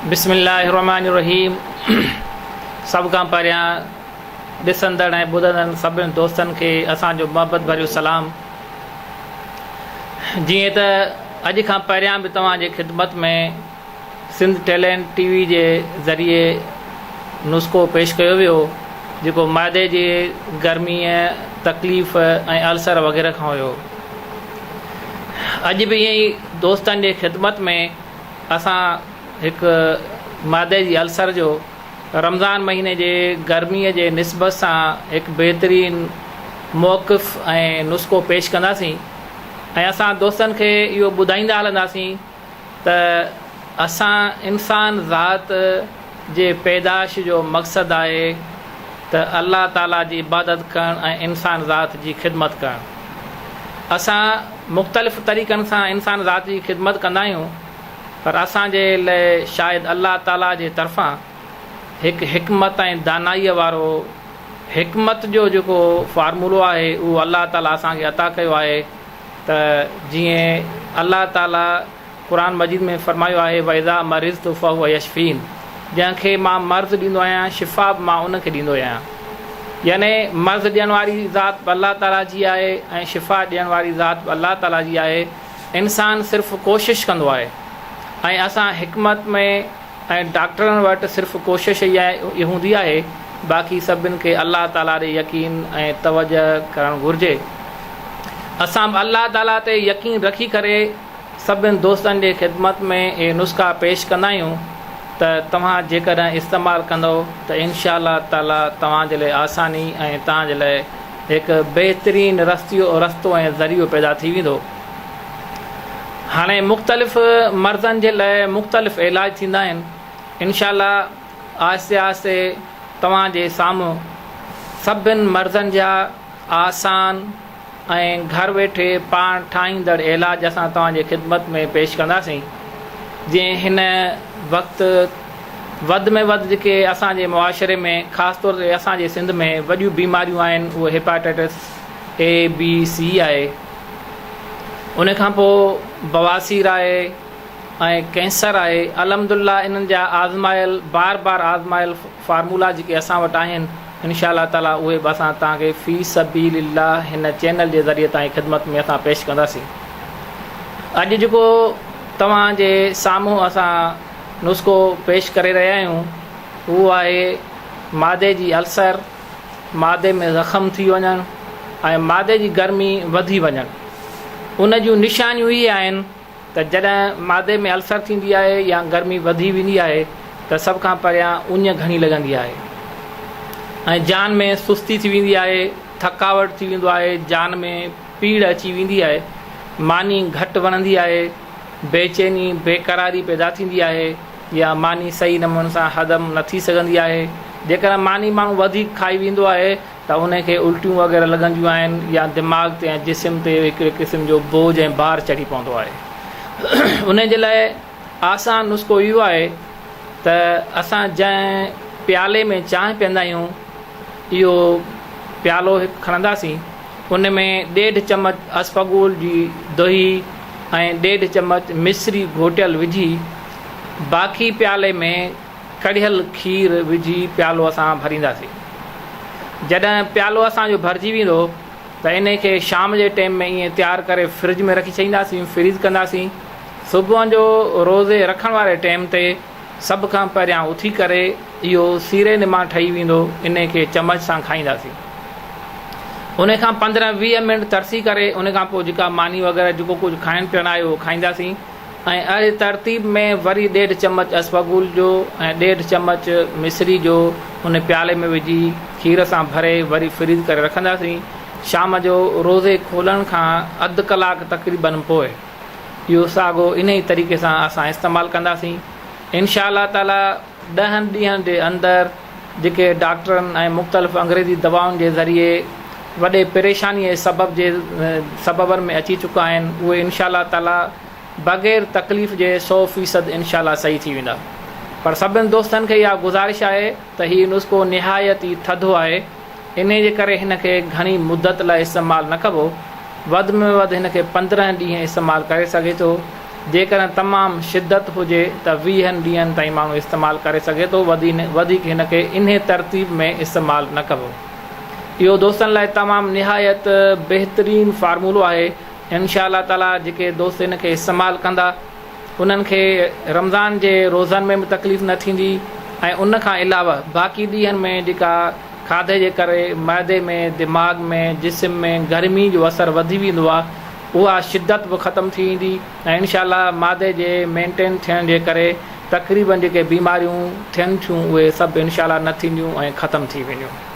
بسم الله الرحمن الرحيم سڀ کان پهريان ڏسندڙ ۽ ٻڌندڙن سڀني دوستن کي اسان جو محبت ڀريو سلام جيئن ته اڄ کان پهريان به توهان جي خدمت ۾ سنڌ ٽيلينٽ ٽي وي جي ذريعي نسخو پيش ڪيو ويو جيڪو معدي جي گرميء تڪليف ۽ السر وغيره کان هيو. اڄ به ائين ئي دوستن جي خدمت ۾ اسان هڪ معدي جي السر جو رمضان مهيني جي گرميء جي نسبت سان هڪ بهترين موقف ۽ نسخو پيش ڪنداسين ۽ اسان دوستن کي اهو ٻڌائيندا هلنداسين ته اسان انسان ذات جي پيدائش جو مقصد آهي ته الله تعالي جي عبادت ڪرڻ ۽ انسان ذات جي خدمت ڪرڻ. اسان مختلف طريقن سان انسان ذات جي خدمت ڪندا آهيون پر اسان جي لئه شايد الله تعالي جي طرفان هڪ حڪمت ۽ دانائيء وارو حڪمت جو جيڪو فارمولو آهي اهو الله تعالي اسان کي عطا ڪيو آهي ته جيئن الله تعاليٰ قرآن مجيد ۾ فرمايو آهي واذا مرضت فهو يشفين جنهن کي مان مرض ڏيندو آهيان شفا به مان ان کي ڏيندو آهيان يعني مرض ڏيڻ واري ذات به الله تعاليٰ جي آهي ۽ شفا ڏيڻ واري ذات به الله تعاليٰ جي آهي انسان صرف ڪوشش ڪندو آهي ۽ اسان حڪمت ۾ ۽ ڊاڪٽرن وٽ صرف ڪوشش ئي اھا ھوندي آھي باقي سڀن کي الله تعالي تي يقين ۽ توجه ڪرڻ گھرجي اسان به الله تعالي تي يقين رکي ڪري سڀن دوستن جي خدمت ۾ اھي نسخا پيش ڪندا آھيون ته توھان جيڪڏھن استعمال ڪندؤ ته انشاء الله تعالي توھان جي لاء آساني ۽ توھان جي لاء ھڪ بهترين رستو ۽ ذريعو پيدا ٿي ويندو. هاڻي مختلف مرضن جي لاء مختلف علاج ٿيندا آهن انشاء الله آهستي آهستي توهان جي سامهون سڀن مرضن جا آسان ۽ گهر ويٺي پاڻ ٺاهيندڙ علاج اسان توهان جي خدمت ۾ پيش ڪنداسين جنهن هن وقت وڌ ۾ وڌ جيڪي اسان جي معاشري ۾ خاص طور تي اسان جي سنڌ ۾ وڏيون بيماريون آهن اهي هيپاٽائٽس اي بي سي آهي ان کان پوء بواسير آهي ۽ ڪينسر آهي الحمد الله انهن جا آزمايل بار بار آزمايل فارمولا جيڪي اسان وٽ آهن انشاء الله تعالي اهي به اسان توهان کي في سبيل الله هن چينل جي ذريعي توهان جي خدمت ۾ اسان پيش ڪنداسين اڄ جيڪو توهان جي سامهون اسان نسخو پيش ڪري رهيا آهيون اهو آهي معدي جي السر معدي ۾ زخم ٿي وڃڻ ۽ معدي جي گرمي وڌي وڃڻ ان جون نشانيون اهي آهن ته جڏهن معدي ۾ السر ٿيندي آهي يا گرمي وڌي ويندي آهي ته سڀ کان پهريان اڃ گهڻي لڳندي آهي ۽ جان ۾ سستي ٿي ويندي آهي ٿڪاوٽ ٿي ويندو آهي جان ۾ پيڙ اچي ويندي آهي ماني گهٽ وڻندي آهي بيچيني بيقراري پيدا ٿيندي آهي يا ماني صحيح نموني سان هضم نه ٿي سگهندي آهي. جيڪڏهن ماني ماڻهو وڌيڪ کائي ويندو آهي ته ان کي الٽيون وغيره لڳنديون آهن يا دماغ تي ۽ جسم تي هڪڙي قسم جو بوجهه ۽ بار چڙهي پوندو آهي. انهي جي لاء آسان نسخو اهو آهي ته اسان جنهن پيالي ۾ چانهه پيئندا آهيون اهو پيالو هڪ کڻنداسين ان ۾ ڏيڍ چمچ اسفغول جي دهي ۽ ڏيڍ چمچ مصري گهوٽيل وجهي باقي پيالي ۾ ڪڙهيل کير وجهي پيالو اسان ڀرينداسين. جڏهن پيالو اسان جو ڀرجي ويندو ته انهي کي شام جي ٽيم ۾ ائين تيار ڪري فرج ۾ رکي ڇڏينداسين، Freeze، ڪنداسين. صبح جو روزي رکڻ واري ٽيم تي سڀ کان پهريان اٿي ڪري اهو سيري نما ٺهي ويندو انهي کي چمچ سان کائينداسين. انهي کان پندرهن ويهه منٽ ترسي ڪري انهي کان پوء جيڪا ماني وغيره جيڪو ڪجهه کائڻ پيئڻ آهي اهو کائينداسين. ۽ اھڙي ترتيب ۾ وري ڏيڍ چمچ اسوگول جو ۽ ڏيڍ چمچ مصري جو ان پيالي ۾ وجھي کير سان ڀري وري فريز ڪري رکنداسين شام جو روزي کولڻ کان اڌ ڪلاڪ تقريباً پوء اھو ساڳو انھي طريقي سان اسان استعمال ڪنداسين انشاء الله تعالي. ڏهن ڏينهن جي اندر جيڪي ڊاڪٽرن ۽ مختلف انگريزي دوائن جي ذريعي وڏي پريشانيء جي سبب جي سببن ۾ اچي چڪا آهن اهي انشاء الله تعاليٰ بغير تڪليف جي سو فيصد انشاء الله صحيح ٿي ويندا پر سڀني دوستن کي اها گذارش آهي ته هي نسخو نهايت ئي ٿڌو آهي انهيء جي ڪري هن کي گهڻي مدت لاء استعمال نه ڪبو. وڌ ۾ وڌ هن کي پندرهن ڏينهن استعمال ڪري سگهي ٿو. جيڪڏهن تمام شدت هجي ته ويهن ڏينهن تائين ماڻهو استعمال ڪري سگهي ٿو. وڌيڪ هن کي انهيء ترتيب ۾ استعمال نه ڪبو. اهو دوستن لاء تمام نهايت بهترين فارمولو آهي. انشاء الله تعاليٰ جيڪي دوست ان کي استعمال ڪندا. انهن کي رمضان جي روزن ۾ به تڪليف نه ٿيندي ۽ ان کان علاوه باقي ڏينهن ۾ جيڪا کاڌي جي ڪري معدي ۾ دماغ ۾ جسم ۾ گرمي جو اثر وڌي ويندو آهي اها شدت به ختم ٿي ويندي ۽ انشاء الله معدي جي مينٽين ٿيڻ جي ڪري تقريبن جيڪي بيماريون ٿين ٿيون اهي سڀ انشاء الله نه ٿينديون ۽ ختم ٿي وينديون.